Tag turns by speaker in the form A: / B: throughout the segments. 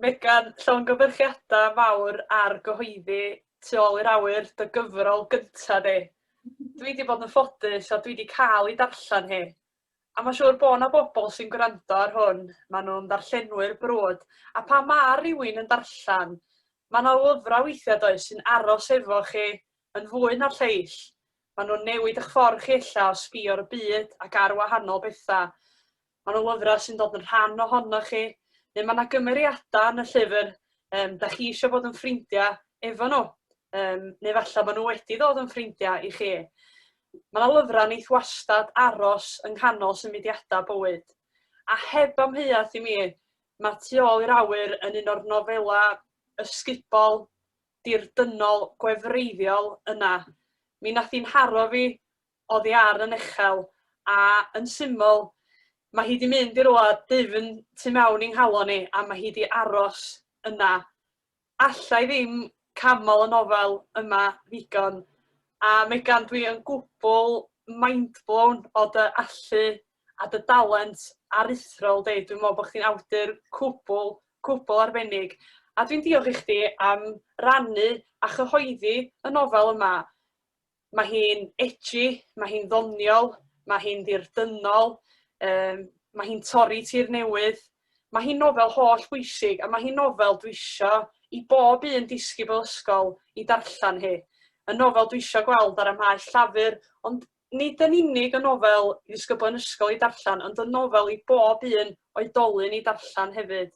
A: Megan, llongyfarchiadau mawr ar gyhoeddi Tu ôl i'r awyr, dy gyfrol gynta di. Dwi wedi bod yn ffodus a dwi wedi cael ei darllen hi. A mae'n siŵr bod yna bobl sy'n gwrando ar hwn, maen nhw'n ddarllenwyr brwd, a pan mae rhywun yn darllen, mae yna lyfrau weithiau does sy'n aros efo chi yn fwy na'r lleill. Maen nhw'n newid eich ffordd chi ella o sbio ar y byd ac ar wahanol bethau. Maen nhw'n lyfrau sy'n dod yn rhan ohono chi, neu mae yna gymeriadau yn y llyfr um, da chi eisiau bod yn ffrindiau efo nhw, um, neu falle maen nhw wedi dod yn ffrindiau i chi. Mae yna lyfrau neith wastad aros yng nghanol symudiadau bywyd. A heb amheuaeth i mi, mae Tu ôl i'r awyr yn un o'r nofelau ysgubol dirdynnol gwefreiddiol yna. Mi nath hi'n haro fi oddi ar yn uchel, a yn syml, mae hi 'di mynd i roa dwfn tu mewn i'n nghalon i, a mae hi 'di aros yna. Alla i ddim canmol y nofel yma ddigon, a Megan dwi yn gwbl mind-blown o dy allu a dy dalent aruthrol di. Dwi'n meddwl bod chdi'n awdur cwbl, cwbl arbennig. A dwi'n diolch i chdi am rannu a chyhoeddi y nofel yma. Mae hi'n edgy, mae hi'n ddoniol, mae hi'n ddirdynnol, um, mae hi'n torri tir newydd. Mae hi'n nofel holl bwysig a mae hi'n nofel dwi eisiau i bob un disgybl ysgol i darllen hi. Y nofel dwi eisiau gweld ar y maes llafur, ond Nid yn unig y nofel i ddisgyblion ysgol i darllen, ond y nofel i bob un oedolyn i darllen hefyd.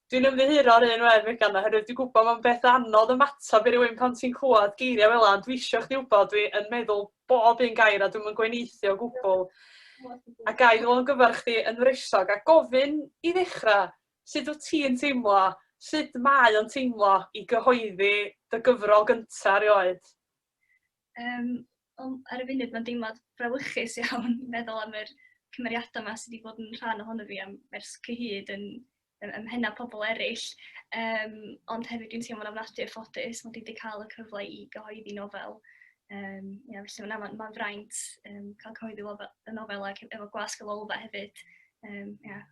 A: Dwi'n ymddiheuro ar un wedd Megan oherwydd dwi'n gwybod mae'n beth anodd ymateb i rywun pan ti'n clywed geiriau fel yna, ond dwi eisiau chdi wybod dwi yn meddwl bob un gair a dwi'm yn gweneithio o gwbl. A gai ddod yn gyfer chdi yn wresog a gofyn i ddechrau, sut wyt ti'n teimlo, sut mae o'n teimlo i gyhoeddi dy gyfrol gyntaf erioed? Yym,
B: wel ar y funud mae'n deimlad brawychus iawn meddwl am yr cymeriadau 'ma sy 'di bod yn rhan ohono fi am ers cyhyd yn ym mhennau pobl eraill, yym ond hefyd dwi'n teimlo'n ofnadwy o ffodus mod i 'di cael y cyfle i gyhoeddi nofel. Yym ia felly na ma'n ma'n fraint yym cael cyhoeddi lofe- y nofel ac efo gwasg y Lolfa hefyd yym ia.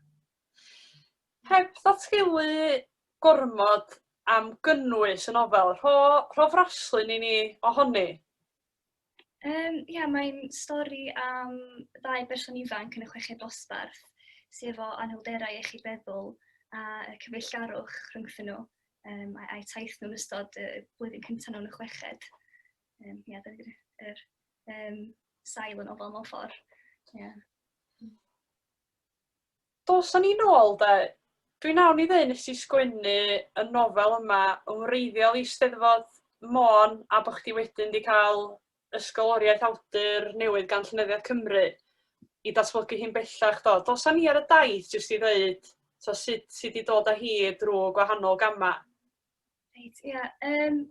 A: Heb ddatgelu gormod am gynnwys y nofel, rho rho fraslun i ni ohoni. Yym ia
B: mae'n stori am ddau berson ifanc yn y chweched dosbarth sy efo anhwylderau iechyd feddwl a y cyfeillgarwch rhwngthyn nhw um, a'i, ai taith nhw'n ystod y blwyddyn cyntaf nhw'n y chweched. Um, ia, yeah, dyna yr um, sail yn ofal mewn ffordd. Yeah.
A: Dos a ni nôl 'de. Dwi wnawn i ddeu' nes i sgwennu y nofel yma yn wreiddiol i 'Steddfod Môn a bo' chdi wedyn 'di cael ysgoloriaeth awdur newydd gan Llenyddiaeth Cymru i datblygu hi'n bellach do. Dos a ni ar y daith jyst i ddeud t'o' sut ti 'di dod â hi drw' gwahanol gama'. Reit
B: ia yym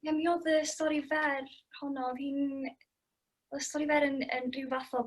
B: ia mi odd y stori fer honno odd hi'n o'dd y stori fer yn yn ryw fath o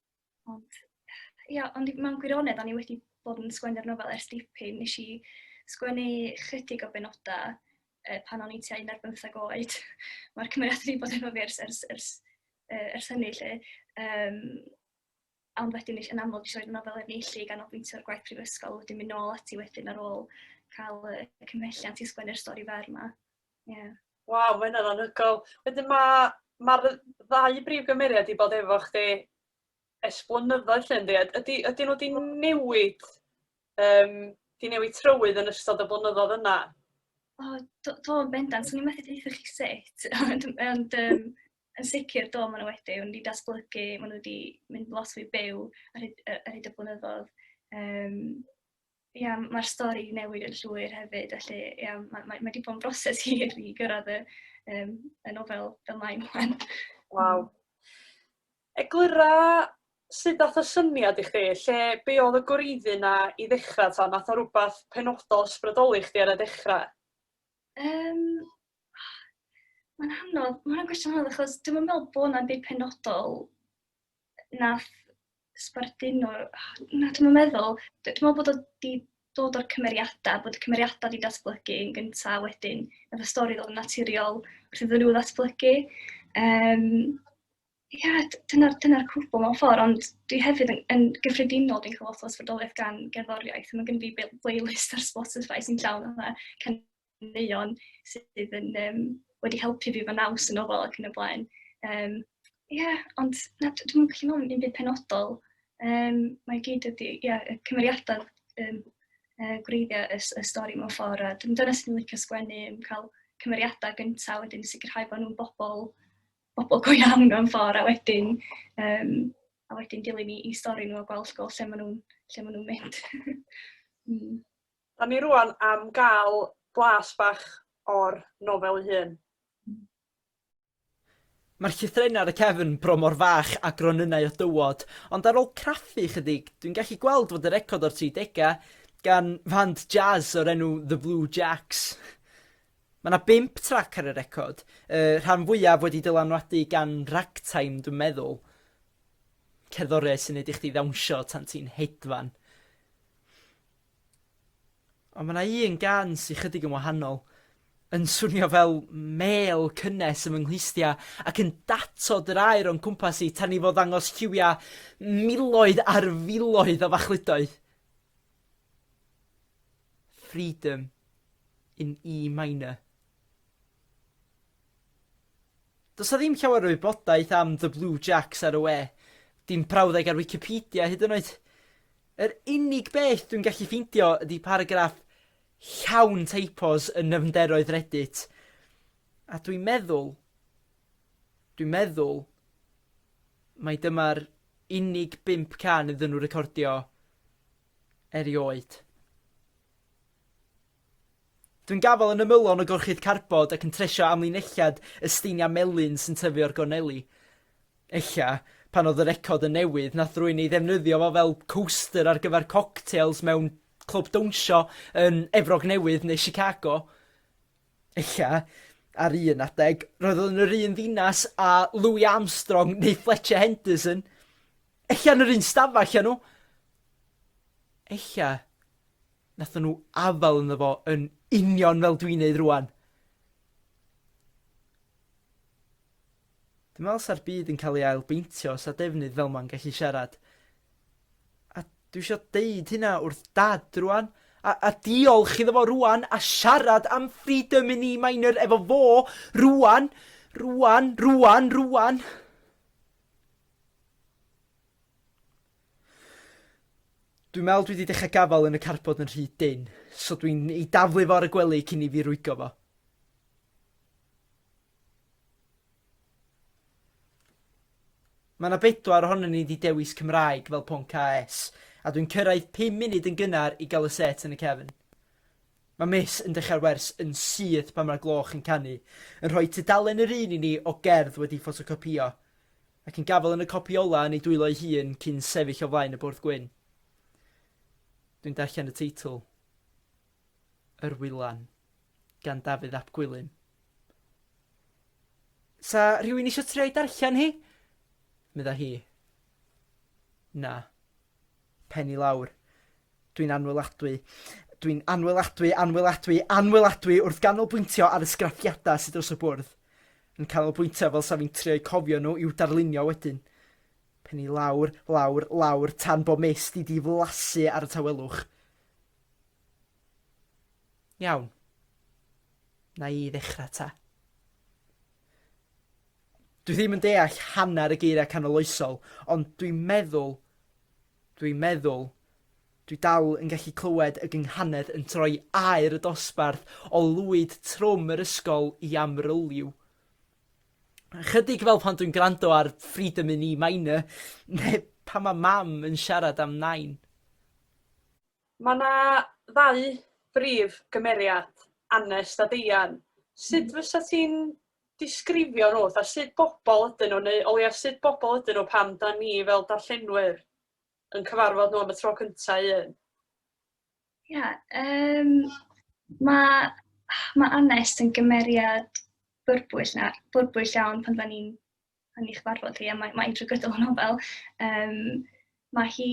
B: Ond, ia, ond mewn gwirionedd, o'n i wedi bod yn sgwennu'r nofel ers dipyn. Nes i sgwennu chydig o benodau uh, pan o'n i tua 15 oed. Mae'r cymeriad wedi bod efo fi ers, ers, ers, uh, ers hynny, lle. Um, ond wedyn yn amlwg eisiau roed y nofel er neillu gan obwyntio ar gwaith prifysgol, wedyn mynd nôl ati wedyn ar ôl cael y cymhelliant i sgwennu'r stori fer yma. Ie. Waw ma'
A: hynna'n anhygoel. Wedyn ma' ma'r yy ddau brif gymeriad 'di bod efo chdi ers blynyddoedd 'lly yndi? A ydi ydyn nhw 'di newid yym 'di newid trywydd yn ystod y blynyddoedd yna? O do
B: do yn bendant. 'Swn i methu deutha chi sut ond ond yym yn sicr do ma' nhw wedi. Maen nhw 'di datblygu, maen nhw 'di mynd lot fwy byw ar hyd yy ar hyd y blynyddoedd. Yym. ia, mae'r stori newid yn llwyr hefyd, felly ia, mae, mae, mae di bod yn broses hir i gyrraedd y, um, y nofel dyma i mlaen. Waw.
A: Eglura sut dath y syniad i chdi, lle be oedd y gwreiddi na i ddechrau ta, nath o rhywbeth penodol ysbrydoli chdi ar y dechrau? Um, mae'n
B: hanodd, mae'n gwestiwn hanodd achos dwi'n meddwl bod yna byd penodol nath sbarduno na dwi'm yn meddwl d- dwi me'wl bod o 'di dod o'r cymeriada' bod y cymeriada' 'di datblygu yn gynta' a wedyn nath y stori ddod yn naturiol wrth iddyn nhw ddatblygu yym ia d- dyna'r dyna'r cwbwl mewn ffor' ond dwi hefyd yn yn gyffredinol dwi'n ca'l lot o ysbrydoliaeth gan gerddoriaeth ma' gynno fi b- playlist ar Spotify sy'n llawn fatha can- ganeuon sydd yn yym wedi helpu fi fy naws yn ofal ac yn y blaen. Um, Ie, yeah, ond na, dwi'n gallu meddwl am un byd penodol. Um, mae gyd ydi, ie, yeah, y cymeriadau um, uh, gwreiddiau y, y stori mewn ffordd. A dwi'n dyna sy'n licio sgwennu, yn cael cymeriadau gyntaf, wedyn sicrhau bod nhw'n bobl, bobl go iawn mewn ffordd, a wedyn, um, a wedyn dilyn i, i stori nhw a gweld go lle maen nhw'n nhw mynd. mm.
A: Dan ni rŵan am gael blas bach o'r nofel ei hun.
C: Mae'r llythrennau ar y cefn bron mor fach â gronynnau o dywod, ond ar ôl craffu ychydig, dwi'n gallu gweld fod y record o'r tridegau, gan fand jazz o'r enw The Blue Jacks. Mae yna bump trac ar y record, y rhan fwyaf wedi dylanwadu gan ragtime, dwi'n meddwl. Cerddoriaeth sy'n neud i chdi ddawnsio tan ti'n hedfan. Ond mae yna un gan sy'n chydig yn wahanol, yn swnio fel mel cynnes ym nghlustia ac yn datod yr air o'n cwmpas i tan i fod ddangos lliwia miloedd ar filoedd o fachludoedd. Freedom in E minor. Does 'na ddim llawer o wybodaeth am The Blue Jacks ar y we, dim prawddeg ar Wikipedia hyd yn oed. Yr unig beth dwi'n gallu ffeindio ydy paragraff llawn typos yn nyfnderoedd Reddit. A dwi'n meddwl, dwi'n meddwl, mae dyma'r unig bimp can iddyn nhw recordio erioed. Dwi'n gafael yn ymylon o gorchudd carbod ac yn tresio amlinelliad y steiniau melyn sy'n tyfu o'r gorneli. Ella, pan oedd y record yn newydd, nath rwy'n ei ddefnyddio fo fel coaster ar gyfer cocktails mewn clwb dawnsio yn Efrog Newydd neu Chicago. Ella, ar un adeg, roedd o yn yr un ddinas a Louis Armstrong neu Fletcher Henderson. Ella yn yr un stafell â nhw. Ella, Nathon nhw afael ynddo fo yn union fel dwi'n neud rwan. Dwi'n meddwl sa'r byd yn cael ei ail beintio sa defnydd fel ma'n gallu siarad. A dwi eisiau deud hynna wrth dad rwan. A, a diolch iddo fo rwan a siarad am freedom in E minor efo fo rwan, rwan, rwan, rwan. Dwi'n meddwl dwi 'di dechrau gafael yn y carbod yn rhy dynn, so dwi'n ei daflu fo ar y gwely cyn i fi rwygo fo. Mae yna bedwar ohonyn ni wedi dewis Cymraeg fel pwnc AS, a dwi'n cyrraedd 5 munud yn gynnar i gael y set yn y cefn. Mae Miss yn dechrau'r wers yn syth pan mae'r gloch yn canu, yn rhoi tudalen yr un i ni o gerdd wedi ffotocopïo. Ac yn gafael yn y copi ola yn ei dwylo ei hun cyn sefyll o flaen y bwrdd gwyn. Dwi'n darllen y teitl. Yr Wylan, gan Dafydd ap Gwilym. Sa rhywun eisiau trio ei darllen hi? Medda hi. Na. pen i lawr. Dwi'n anwyladwy. Dwi'n anwyladwy, anwyladwy, anwyladwy wrth ganolbwyntio ar y sgraffiadau sydd dros y bwrdd. Yn canolbwyntio fel sa fi'n trio'u cofio nhw i'w darlunio wedyn. Pen i lawr, lawr, lawr, tan bo mes di di flasu ar y tawelwch. Iawn. Na i ddechrau ta. Dwi ddim yn deall hanner y geiriau canoloesol, ond dwi'n meddwl, dwi'n meddwl, dwi dal yn gallu clywed y gynghanedd yn troi aer y dosbarth o lwyd trwm yr ysgol i amryliw. Chydig fel pan dwi'n gwrando ar Freedom in E minor, neu pan mae mam yn siarad am nain.
A: Mae yna ddau brif gymeriad, Anest a Deian. Sut fysa ti'n disgrifio nhw fatha sut bobl ydyn nhw neu o leiaf sut bobl ydyn nhw pan 'da ni fel darllenwyr yn cyfarfod nhw am y tro cynta' un? Ia yym
B: ma' ma' Anest yn gymeriad byrbwyll na- byrbwyll iawn pan 'da ni'n pan ni'n cyfarfod hi, a mae, mae hi'n drwy gydol y nofel. Um, mae hi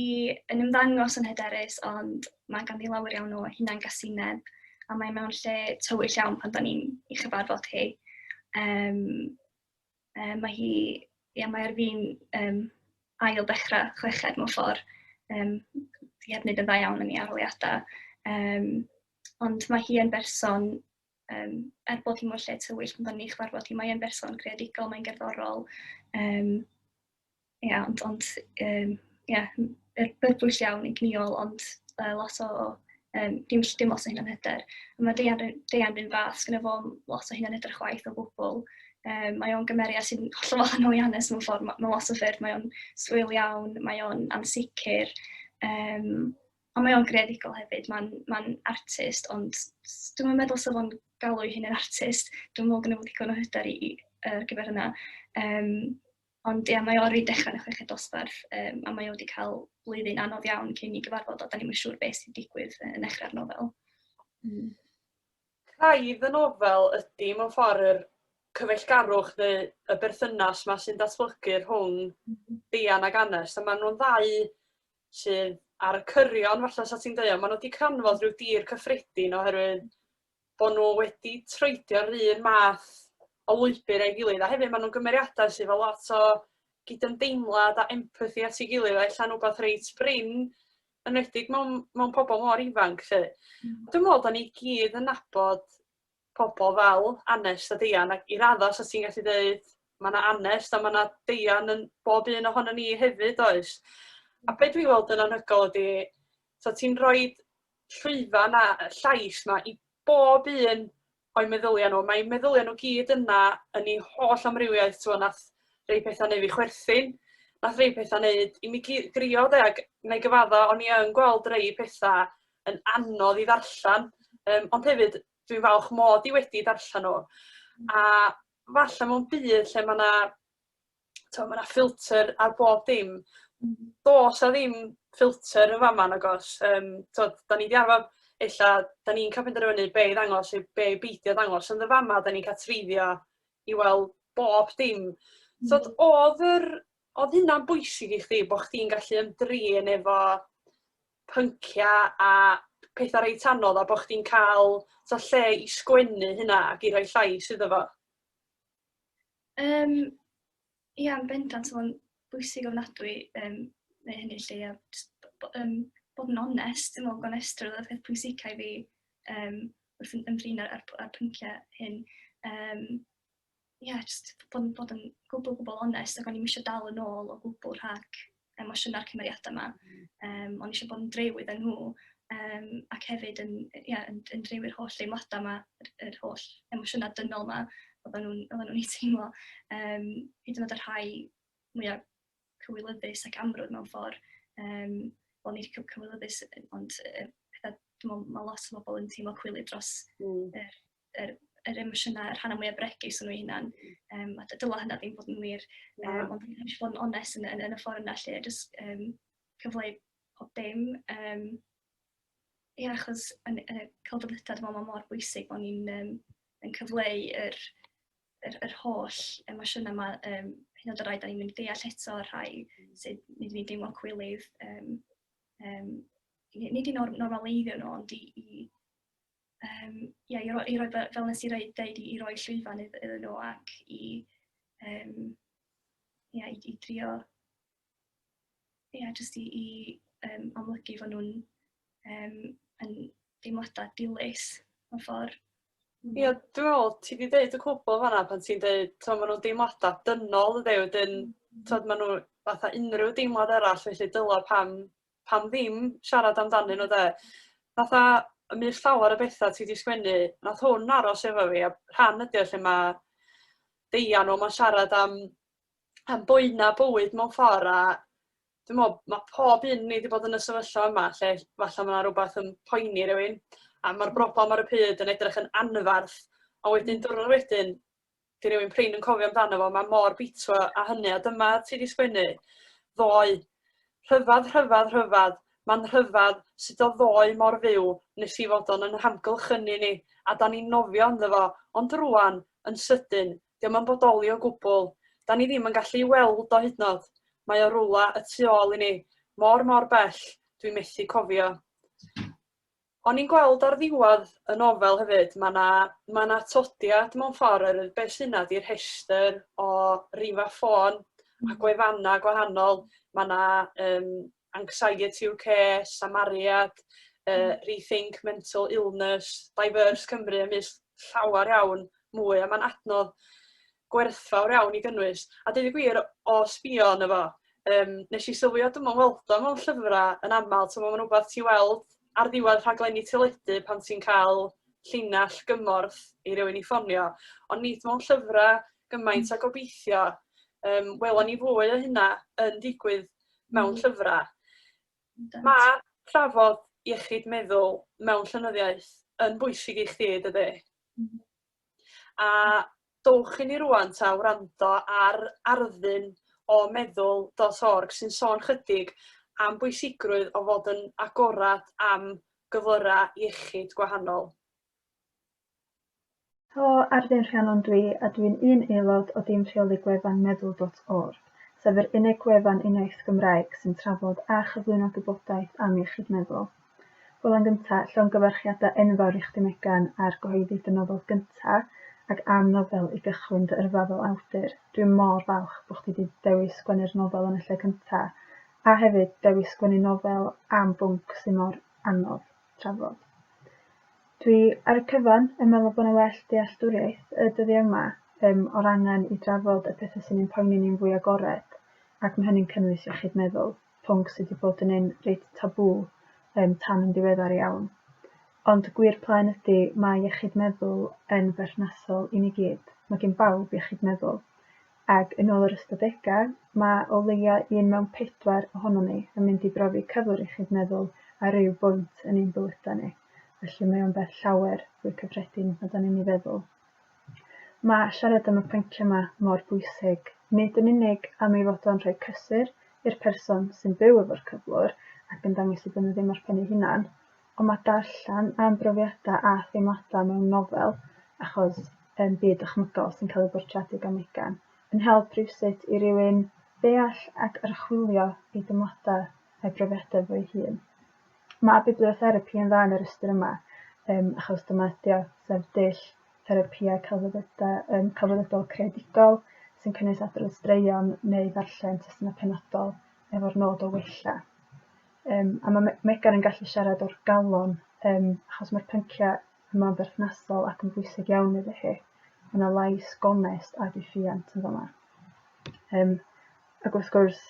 B: yn ymddangos yn hyderus, ond mae ganddi lawer iawn o hunan gasineb, a mae mewn lle tywyll iawn pan da ni'n ei chyfarfod hi. Um, um, mae hi, ia, mae ar fi'n um, ail dechrau chweched mewn ffordd, um, di hefyd yn dda iawn yn ei aroliadau. Um, ond mae hi yn berson um, er bod hi mor lle tywyll, pan ni chwarfod hi, mae'n berson creadigol, mae'n gerddorol. Um, ia, ond, ond um, ia, er byrbwyll iawn yn gniol, ond uh, lot o, um, dim, dim lot o hyn yn hyder. Mae Deian, Deian rhywun fath, gyda fo lot o hyn yn hyder chwaith o gwbl. Um, mae o'n gymeriad sy'n hollol wahanol i Anes mewn ffordd, mae, mae lot o ffyrdd, mae o'n swyl iawn, mae o'n ansicr, um, A mae o'n greadigol hefyd, mae'n mae'n artist ond dwi'm yn meddwl 'sa fo'n galw'i hun yn artist, dwi'm yn meddwl gynna fo ddigon o hyder i ar gyfer hynna. Yym ond ia mae o ar ei dechra yn y chweched dosbarth yym a mae o wedi cael blwyddyn anodd iawn cyn i gyfarfod a dan ni'm yn siŵr beth sy'n digwydd yn nechrau'r nofel. Mm.
A: Craidd y nofel ydy mewn ffordd yr cyfeillgarwch neu y berthynas 'ma sy'n datblygu rhwng mhm. Dian ac Anest a maen nhw'n ddau sydd ar y cyrion falle 'sa ti'n deud, ond ma' nw 'di canfod rhyw dir cyffredin oherwydd bo' nw wedi troedio'r un math o lwybyr a'i gilydd a hefyd ma' nhw'n gymeriadau sydd efo lot o gydymdeimlad a empathi at ei gilydd a ella'n wbath reit brin enwedig mewn mewn pobl mor ifanc 'lly. Hmm. Dwi'n me'wl 'dan ni gyd yn nabod pobl fel Anest a Deian ac i raddau 'sa ti'n gallu deud mae 'na Anest a mae 'na Deian yn bob un ohonon ni hefyd oes? A be dwi'n weld yn anhygoel ydy so ti'n rhoi llwyfan a llais 'ma i bob un o'i meddyliau nhw. Mae meddyliau nhw gyd yna yn ei holl amrywiaeth ti'n gwbod wnaeth rhai pethau neu' fi chwerthin wnaeth rhai pethau 'neud i mi gi- grio 'de ac wna i gyfadda' o'n i yn gweld rhai pethau yn anodd i ddarllen, yym ond hefyd dwi'n falch mod i wedi darllen o. A falle mewn byd lle mae yna t'o' ma' 'na ffilter ar bob dim. Hmm. Do's 'a ddim ffilter yn fama nag o's? Yym t'od 'dan ni 'di arfar ella 'dan ni'n ca'l penderfynu be' i ddangos neu be' i beidio ddangos ond yn fama 'dan ni'n ca'l treiddio i weld bob dim. T'od hmm. o'dd yr Oedd hynna'n bwysig i chdi bod chdi'n gallu ymdrin efo pynciau a pethau reit anodd a bod chdi'n cael so, lle i sgwennu hynna ac i roi llais iddo fo? Um,
B: ia, yn bendant, so mae'n bwysig ofnadwy um, neu hynny lle, a just, um, bod yn onest, dwi'n meddwl bod onest o'r peth pwysicau fi um, wrth yn ymdrin ar, ar, ar pynciau hyn. Um, ia, jyst bod yn bod yn gwbl, gwbl onest, ac o'n i'm eisiau dal yn ôl o gwbl rhag emosiynau'r cymeriadau yma. Um, o'n i eisiau bod yn drew iddyn nhw, um, ac hefyd yn, ia, yn, yn drew i'r holl deimladau yma, yr, yr holl emosiynau dynol yma, oedden nhw'n nhw, nhw ei teimlo. Um, hyd yn oed y rhai mwyaf cywilyddus ac amrwd mewn ffordd. Um, Wel, nid cywilyddus, ond uh, pethau, dwi'n meddwl, mae lot o bobl yn teimlo cwilydd dros mm. er, yr, yr emosiynau, y rhannau mwyaf bregus yn nhw hunan. Um, a dyla hynna ddim bod yn wir, um, ond dwi'n eisiau bod yn onest yn, yn, yn y ffordd yna lle, jyst um, cyfleu pob dim. Um, Ie, yeah, achos yn, yn y celfyddydau, dwi'n meddwl, mor bwysig bod ni'n um, yn cyfleu yr, yr, yr holl emosiynau yma, um, hyn oed o rai da ni'n mynd deall eto, rhai sydd nid ni'n deimlo cwilydd, um, um, nid i'n normaleiddio nhw, ond i, i um, yeah, i, roi, i roi, fel nes i roi, dweud, i, i roi llwyfan iddyn nhw ac i, um, yeah, i, i drio, yeah, just i, i um, amlygu fod nhw'n um, yn deimladau dilys mewn ffordd. Mm. Ie, yeah,
A: dwi'n meddwl, ti wedi dweud y cwbl fanna pan ti'n dweud, to, maen nhw'n deimladau dynol, ydy, wedyn, mm. to, maen nhw fatha unrhyw deimlad arall, felly dylo pam pam ddim siarad amdanyn nhw 'de? Fatha, y mys llawer o betha ti 'di sgwennu, nath hwn aros efo fi a rhan ydi o lle ma' Deian o 'ma'n siarad am am boena' bywyd mewn ffor' a dwi me'wl ma' pob un o ni 'di bod yn y sefyllfa yma lle falla ma' 'na rwbath yn poeni rywun a ma'r broblam ar y pryd yn edrych yn anfarth a wedyn diwrnod wedyn 'di rywun prin yn cofio amdano fo, mae mor bitro a hynny, a dyma ti 'di sgwennu ddoe. Rhyfedd, rhyfedd, rhyfedd, mae'n rhyfedd sut o ddoe mor fyw nes i fod o'n yn hamgylch ynni ni, a da ni'n nofio ynddo fo, ond rwan, yn sydyn, diom yn bodoli o gwbl. Da ni ddim yn gallu i weld o hydnod. Mae o rwla y tu ôl i ni, mor mor bell, dwi methu cofio. O'n i'n gweld ar ddiwedd y nofel hefyd, ma' 'na ma' 'na atodiad mewn ffordd oherwydd be' sy 'na 'di rhestr o rifa ffôn a gwefanna gwahanol, ma' 'na yym Anxiety UK, Samaria, yy Rethink Mental Illness, Diverse Cymru a maes llawar iawn mwy a ma'n adnodd gwerthfawr iawn i gynnwys. A deud y gwir, o sbïo arno fo, yym, wnes i sylwi a dwi'm yn weld o mewn llyfrau yn aml. Timod, mae'n rywbeth ti'n weld ar ddiwedd rhaglenni teledu pan ti'n cael llinell gymorth i rywun i ffonio, ond nid mewn llyfrau gymaint a gobeithio. Yym, welon ni fwy o hynna yn digwydd mewn llyfrau. Mae trafod iechyd meddwl mewn llenyddiaeth yn bwysig i chdi, dydy? A dowch i ni rŵan 'ta wrando ar Arddun o Meddwl dot org sy'n sôn chydig am bwysigrwydd o fod yn agored am gyflyra' iechyd gwahanol.
D: Helo, Arddun Rhiannon dw i a dw i'n un aelod o dîm rheoli gwefan Meddwl dot org, sef yr unig wefan uniaith Gymraeg sy'n trafod a chyflwyno gwybodaeth am iechyd meddwl. Wel yn gynta, llongyfarchiadau enfawr i chdi Megan ar gyhoeddi dy nofel gynta ac am nofel i gychwyn dy yrfa fel awdur. Dwi mor falch bo chdi 'di dewis sgwennu'r nofel yn y lle cynta, a hefyd dewis sgwennu nofel am bwnc sy mor anodd trafod. Dwi ar y cyfan yn meddwl bo 'na well dealltwriaeth y dyddiau yma um, o'r angen i drafod y pethau sy'n ein poeni ni'n fwy agored, ac ma' hynny'n cynnwys iechyd meddwl. pwnc sy 'di bod yn un reit tabŵ yym tan yn ddiweddar iawn. Ond y gwir plaen ydi, mae iechyd meddwl yn berthnasol i ni gyd. Mae gen bawb iechyd meddwl. Ac yn ôl yr ystadegau, mae o leia' un mewn pedwar ohonon ni yn mynd i brofi cyflwr iechyd meddwl ar ryw bwynt yn ein bywydau ni. Felly mae o'n beth llawer fwy cyffredin na 'dan ni'n ei feddwl. Mae siarad am y pynciau yma mor bwysig, nid yn unig am ei fod o'n rhoi cysur i'r person sy'n byw efo'r cyflwr ac yn dangos ei bod nhw ddim ar ben eu hunan, ond mae darllen am brofiadau a theimladau mewn nofel, achos yn byd dychmygol sy'n cael ei bortreadu gan Megan, yn help rywsut i rywun ddeall ac archwilio ei deimladau a'i brofiadau fo'i hun. Mae bibliotherapi yn dda yn yr ystyr yma, um, achos dyma ydy o, sef dull therapïau celfyddydau, um, celfyddydol creadigol sy'n cynnwys adrodd straeon neu ddarllen testunau penodol efo'r nod o wella. Um, a mae Megan yn gallu siarad o'r galon, um, achos mae'r pynciau yma'n berthnasol ac yn bwysig iawn iddo hi. Mae yna lais gonest a diffiant yn fama. Um, Ac wrth gwrs,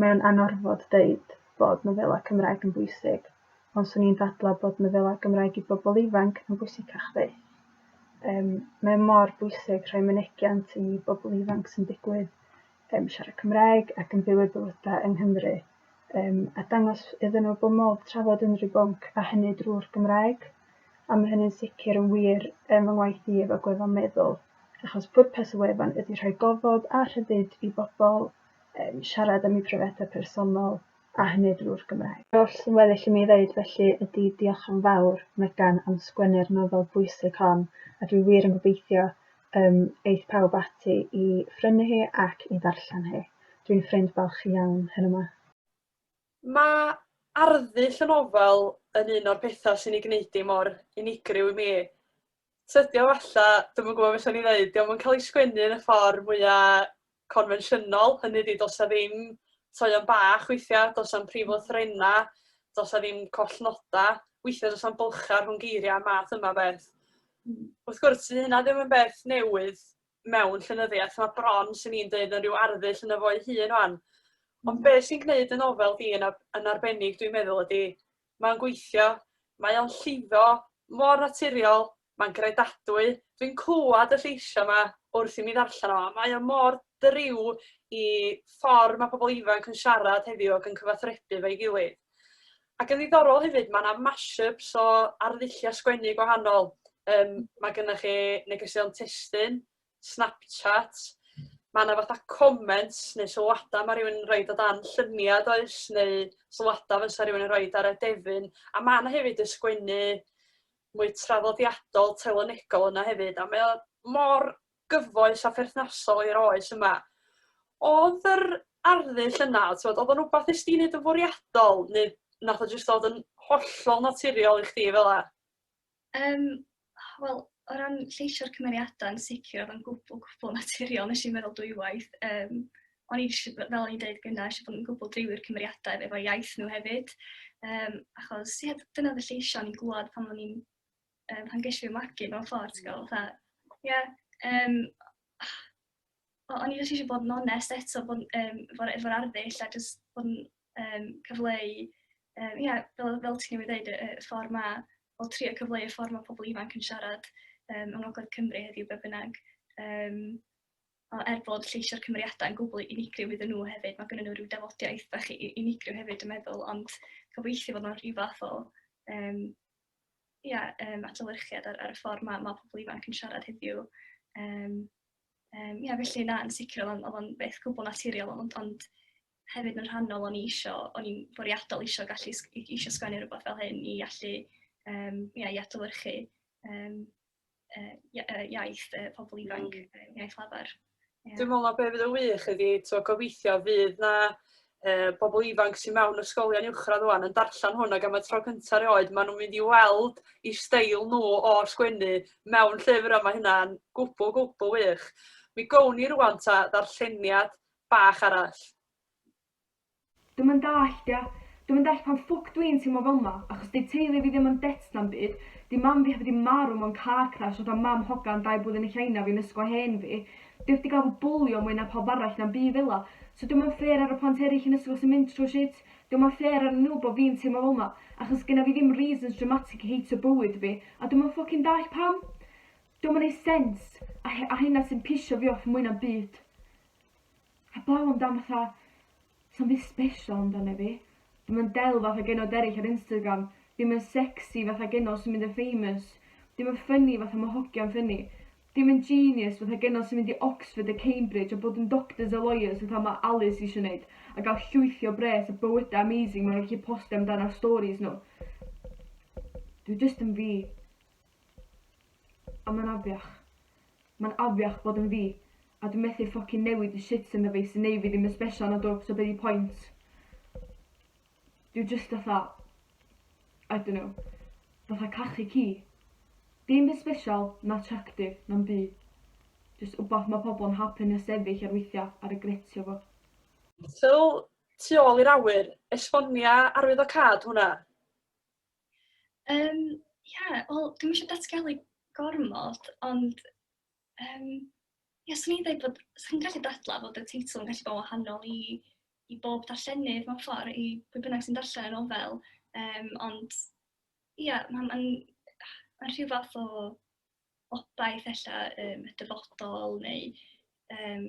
D: mae o'n anorfod deud bod nofelau Cymraeg yn bwysig, ond 'swn i'n dadlau bod nofelau Gymraeg i bobl ifanc yn bwysicach fyth. Yym, mae o mor bwysig rhoi mynegiant i bobl ifanc sy'n digwydd yym siarad Cymraeg ac yn byw eu bywydau yng Nghymru, yym, a dangos iddyn nhw bod modd trafod unrhyw bwnc, a hynny drwy'r Gymraeg. A mae hynny'n sicr yn wir yn fy ngwaith i efo gweddol meddwl. achos pwrpas y wefan ydy rhoi gofod a rhyddid i bobl um, siarad am eu profiadau personol, a hynny drwy'r Gymraeg. Yr oll sy'n weddill i mi ddeud felly ydy diolch yn fawr, Megan, am sgwennu'r nofel bwysig hon, a dwi wir yn gobeithio um, eith pawb ati i phrynu hi ac i ddarllen hi. Dwi'n ffrind balch iawn hyn yma. Mae
A: arddull y nofel yn un o'r pethau sy'n ei gwneud i mor unigryw i mi. Tydio falla, dwi'm yn gwybod beth o'n i'n ddeud, dio'm yn cael ei sgwennu yn y ffordd mwya' confensiynol, hynny ydi do's 'na ddim toeon bach weithia', do's 'na'm prif lythrenna', do's 'na ddim collnoda', weithia' do's 'na'm bylcha' rhwng geiria' a math yma o beth. Hmm. Wrth gwrs, sy hynna ddim yn beth newydd mewn llenyddiaeth, mae bron sy'n ni'n dweud yn rhyw arddull yn y fo'i hun o'n. Ond hmm. be' sy'n gwneud y nofel di yn ar- yn arbennig dwi'n meddwl ydi mae'n gweithio, mae o'n llifo mor naturiol, mae'n gredadwy. Dwi'n clywed y lleisiau 'ma wrth i mi ddarllen o, a mae o mor driw i ffordd mae pobl ifanc yn siarad heddiw ac yn cyfathrebu efo'i gilydd. Ac yn ddiddorol hefyd, mae 'na mash-ups o arddulliau sgwennu gwahanol. Yym, mae gennych chi negeseuon testun, Snapchat, ma' 'na fatha comments neu sylwada ma' rywun yn roid o dan llunia' does neu sylwada fysa rywun yn roid ar adefyn a ma' 'na hefyd y sgwennu mwy traddodiadol telynegol yna hefyd a mae o mor gyfoes a pherthnasol i'r oes yma. Odd yr arddull yna t'mod odd o'n wbath nes di neud yn fwriadol ne' nath o jyst dod yn hollol naturiol i chdi fela? Yym,
B: wel, o ran lleisio'r cymeriadau, yn sicr, oedd o'n gwbl, gwbl naturiol. Nes i'n meddwl dwywaith. Um, o'n i eisiau, fel o'n i'n dweud gyna, eisiau bod yn gwbl driwi'r cymeriadau efo iaith nhw hefyd. Um, achos, ie, dyna fy lleisio o'n i'n glwad pan o'n i'n, um, pan geisio fi magu mewn ffordd, ti'n gwybod, fatha, ie, um, o'n i eisiau bod yn onest eto, bod um, efo'r efo arddull a jyst bod yn um, cyfleu, um, ia, fel, fel ti'n ei ddeud, y, y ffordd ma, o trio cyfleu y ffordd mae pobl ifanc yn siarad um, yng Ngogledd Cymru heddiw be bynnag. Um, er bod lleisio'r cymeriadau yn gwbl unigryw iddyn nhw hefyd, mae gennym nhw rhyw dafodiaeth bach unigryw hefyd yn meddwl, ond gobeithio bod nhw'n rhyw fath o um, ia, um, adolyrchiad ar, ar y ffordd mae, mae pobl ifanc yn siarad heddiw. Um, um, ia, felly na, yn sicr oedd o'n beth gwbl naturiol, ond, ond hefyd yn rhannol o'n i isio, o'n i'n fwriadol isio gallu isio sgwennu rhywbeth fel hyn i allu um, ia, i adolyrchu um, uh, iaith uh, pobl ifanc, mm. iaith lafar. Yeah. Dwi'n meddwl na beth
A: fydd y wych ydi, to, gobeithio fydd na uh, bobl ifanc sy'n mewn ysgolion uwchradd rwan yn darllen hwn ac am y tro cyntaf rioed, maen nhw'n mynd i weld i steil nhw o sgwennu mewn llyfr yma hynna'n gwbl, gwbl wych. Mi gown ni rwan ta ddarlleniad bach arall.
E: Dwi'm yn dallt ia. Dwi'm yn dallt pam ffwc dwi'n teimlo fel 'ma, achos 'di teulu fi ddim yn debt na'm byd, 'di mam fi heb 'di marw mewn car crash fatha mam hogan dau blwyddyn yn China fi'n ysgol hen fi, dwi heb 'di ga'l fy bwlio mwy na pawb arall na'm byd fela. So dwi'm yn fair ar y plant eryll yn ysgol sy'n mynd trw shit, dwi'm yn fair arnyn nhw bo fi'n teimlo fel 'ma, achos gynna fi ddim reasons dramatic i heitio bywyd fi, a dwi'm yn ffwcin dallt pam! Dwi'm yn neud sense, a a hynna sy'n pisio fi off mwy na'm byd. Heblaw am dan fatha, sa'm byd sbeshal amdano fi. Dwi'm yn del fatha genod eryll ar Instagram, dim yn sexy fatha genod sy'n mynd yn famous, dim yn ffynni fatha ma' hogia'n ffynni, dim yn genius fatha genod sy'n mynd i Oxford a Cambridge a bod yn doctors a lawyers fatha ma' Alice isio neud, a ga'l llwythi o bres a bywyda amazing ma' nhw'n gallu postio amdan ar storis nhw. Dwi jyst yn fi. A mae'n afiach. Mae'n afiach bod yn fi. A dwi methu ffocin newid y shit ynddo fi sy'n neu' fi ddim yn sbeshal nadw, so be' 'di point? Dwi jyst fatha I dunno. Fatha cachu ci. Dim byd sbeshal, na attractive, na'm byd. Jyst wbath ma' pobol yn hapun a sefyll ar weithia' a regretio fo. Fel,
A: tu ôl i'r awyr, esbonia arwyddocâd hwnna? Um,
B: yeah, wel, dwi'n eisiau datgelu gormod, ond um, yeah, swn i'n dweud bod, swn gallu dadla bod y teitl yn gallu bod wahanol i, i bob darllenydd mewn ffordd, i bwy bynnag sy'n darllen y nofel, um, ond ie, yeah, mae'n ma ma rhyw fath o obaith ella um, y dyfodol neu um,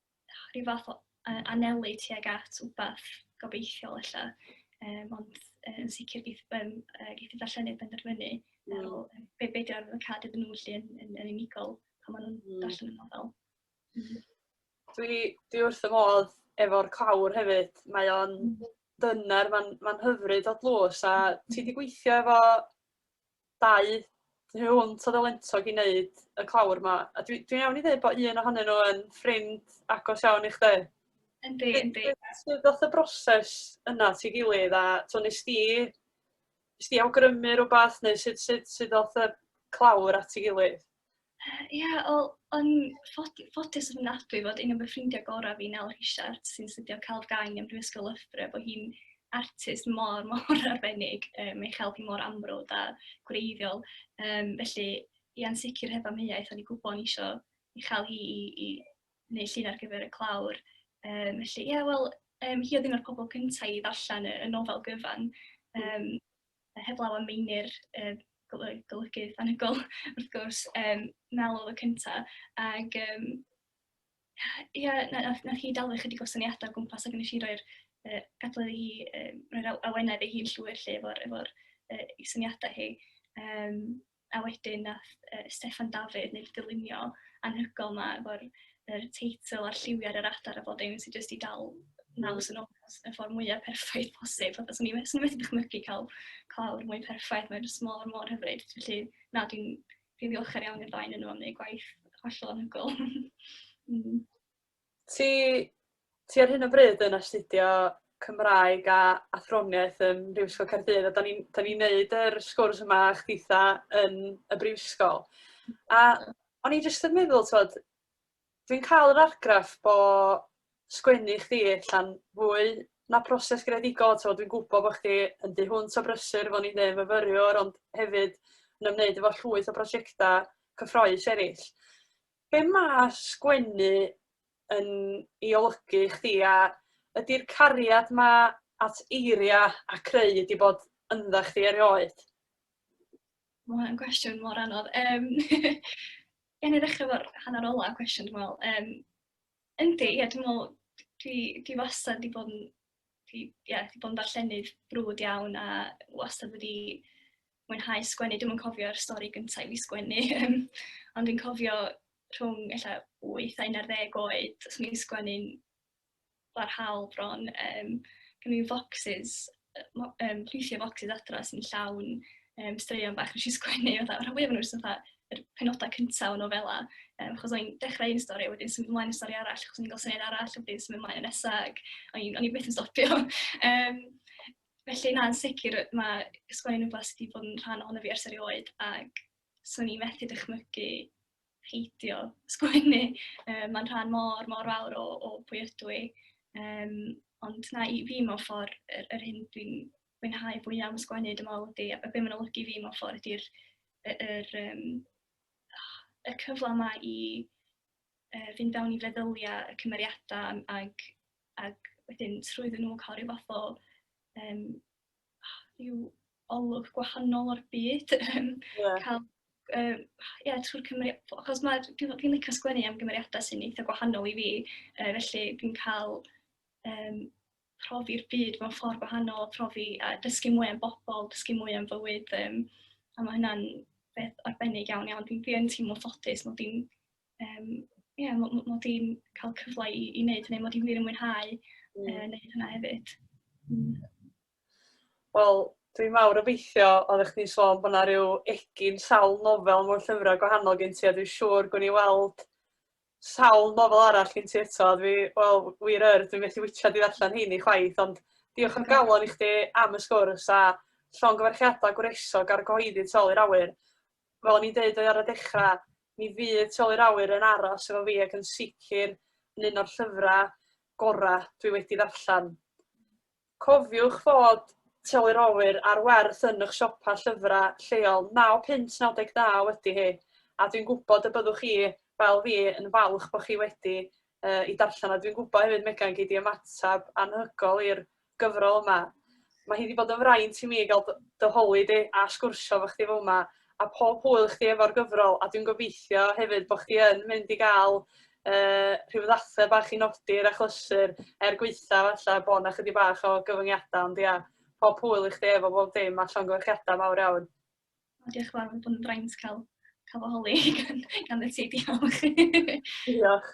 B: rhyw fath o anelu tuag at wbath gobeithiol ella. Um, ond yn sicr geith, um, geith y darllenydd benderfynu mm. ar ôl be, be di'r arwyddocad iddyn nhw lle yn, yn, yn unigol pan maen nhw'n mm. darllen y nofel. Mm. Dwi,
A: dwi wrth y modd efo'r clawr hefyd. Mae o'n mm. dyner, mae'n ma hyfryd o dlws a ti wedi gweithio efo dau tu hwnt o ddylentog i wneud y clawr 'ma. A dwi dwi'n iawn i ddeud bod un ohonyn nhw yn ffrind agos iawn i chdi? Yndi, yndi.
B: Sut ddoth y
A: broses yna at ei gilydd a t'o' wnest ti wnest ti awgrymu rywbeth neu sut sut sut ddoth y clawr at ei gilydd? Ie, yeah, wel,
B: o'n ffodus yn ofnadwy fod un o fy ffrindiau gorau fi, Nel Rhisiart, sy'n studio celf gang ym Mhrifysgol Loughborough, bod hi'n artist mor, mor arbennig. Um, mae chael hi mor amrwd a gwreiddiol. Um, felly, i ansicr heb amheuaeth, o'n i'n gwybod o'n eisiau i chael hi i, i wneud llun ar gyfer y clawr. Um, felly, ie, yeah, wel, um, hi oedd un o'r pobl cyntaf i ddarllen y, y nofel gyfan. Um, heblaw am Meinir, y golygydd anhygoel wrth gwrs, um, Mel oedd y cyntaf, ac um, ia, nath, nath hi dalu chydig o syniadau o gwmpas ac nes i roi'r uh, gadwedd hi, um, roi'r awenedd ei hun llwyr lle efo'r efo, uh, syniadau hi. Um, A wedyn wnaeth yy Steffan Dafydd wneud y dylunio anhygoel 'ma efo'r yr teitl a'r lliwiau ar yr adar a bob dim sy jyst 'di dal naws yn onest y ffordd mwya perffaith posib. Fatha 'swn i me- 'swn i methu dychmygu cael clawr mwy perffaith, mae jyst mor mor hyfryd. Felly na dwi'n dwi'n ddiolchgar iawn i'r ddau ohonyn nhw am wneud gwaith hollol anhygoel. Hmm. Ti,
A: ti ar hyn o bryd yn astudio Cymraeg a Athroniaeth ym Mhrifysgol Caerdydd a da ni'n da ni wneud yr sgwrs yma a chdi'tha yn y brifysgol. A o'n i jyst yn meddwl, tywed, dwi'n cael yr argraff bo sgwennu chdi allan fwy na proses greadigol, tywed, dwi'n gwybod bod chdi yn dy hwnt o brysur, fo'n i'n dweud, myfyriwr, ond hefyd yn ymwneud efo llwyth o brosiectau cyffroes eraill. Be ma' sgwennu yn 'i olygu i chdi a ydi'r cariad 'ma at eiria' a creu 'di bod yndda chdi erioed?
B: Ma' hwnna'n gwestiwn mor anodd yym gawn ni ddechra' 'fo'r hannar ola' cwestiwn dwi me'wl yym yndi ie dwi me'wl dwi dwi wastad 'di bod yn fi ie, fi 'di bod yn ddarllenydd brwd iawn a wastad wedi mwynhau sgwennu. Dwi'm yn cofio'r stori gynta' i fi sgwennu yym ond fi'n cofio rhwng ella wyth a unarddeg oed, so o'n i'n sgwennu'n barhaol bron yym gen i focsys yy mo- yym rhithiau focsys adra sy'n llawn yym straeon bach wnes i sgwennu fatha rhan fwya o'r nhw jyst fatha yr penodau cyntaf o nofela, um, achos o'n i'n dechrau un stori, a wedyn symud ymlaen i stori arall, achos o'n i'n gael syniad arall, a wedyn symud ymlaen yn nesaf, ac o'n i'n i byth yn stopio. um, felly, na, yn sicr, mae sgwennu'n rhywbeth sydd wedi bod yn rhan ohono fi ers erioed, ac swn i'n methu dychmygu peidio sgwennu. Um, Mae'n rhan mor, mor fawr o, o pwy ydw i. Um, ond na, i fi mewn ffordd, yr, yr hyn dwi'n mwynhau fwyaf am sgwennu, dwi'n meddwl, ydy, a be mae'n olygu fi mewn ffordd ydy'r y, yr, um, y cyfle yma i uh, fynd fewn i feddyliau y cymeriadau ac, ac wedyn trwyddyn nhw cael rhyw fath o um, rhyw olwg gwahanol o'r byd. yeah. cael, uh, yeah, trwy'r cymeriadau, achos mae, dwi'n dwi licio sgwennu am gymeriadau sy'n eitha gwahanol i fi, uh, felly dwi'n cael um, profi'r byd mewn ffordd gwahanol, profi a dysgu mwy am bobl, dysgu mwy am fywyd. Um, a mae hynna'n beth arbennig iawn iawn. Dwi'n dwi teimlo ffodus mod i'n um, yeah, mod i cael cyfle i, i wneud hynny, mod i'n wir yn mwynhau mm. uh, wneud hynna hefyd. Mm.
A: Wel, dwi'n mawr obeithio, oeddech chdi'n sôn bod yna rhyw egin sawl nofel mewn llyfrau gwahanol gen ti, a dwi'n siŵr gwn i weld Sawl nofel arall gen ti eto? A dwi, wel, wir yr, dwi methu witsiad i ddarllen heini chwaith, ond diolch am galon i chdi am y sgwrs a llongyfarchiadau gwresog ar gyhoeddi Tu ôl i'r Awyr. Fel o'n i'n deud ar y dechrau, mi fydd Tu ôl i'r Awyr yn aros efo fi ac yn sicr yn un o'r llyfrau gorau dwi wedi ddarllen. Cofiwch fod Telyrowyr ar Werth yn eich siopa llyfrau lleol naw punt naw deg naw ydy hi, a dwi'n gwybod y byddwch chi, fel fi, yn falch bod chi wedi i darllen o. Dwi'n gwybod hefyd, Megan, gei di ymateb anhygoel i'r gyfrol yma. Mae hi wedi bod yn fraint i mi gael dy holi di a sgwrsio efo chdi fel yma, a pob hwyl i chdi efo'r gyfrol a dwi'n gobeithio hefyd bod chdi yn mynd i gael yy rhyw ddathliad bach i nodi'r achlysur er gwaetha' falla bod 'na chydig bach o gyfyngiadau ond ia pob hwyl i chdi efo bob dim a llongyfarchiadau mawr iawn. O, diolch yn
B: fawr, mae'n bod yn fraint cael, cael fy holi gan, gan y ti,
A: diolch.
B: diolch.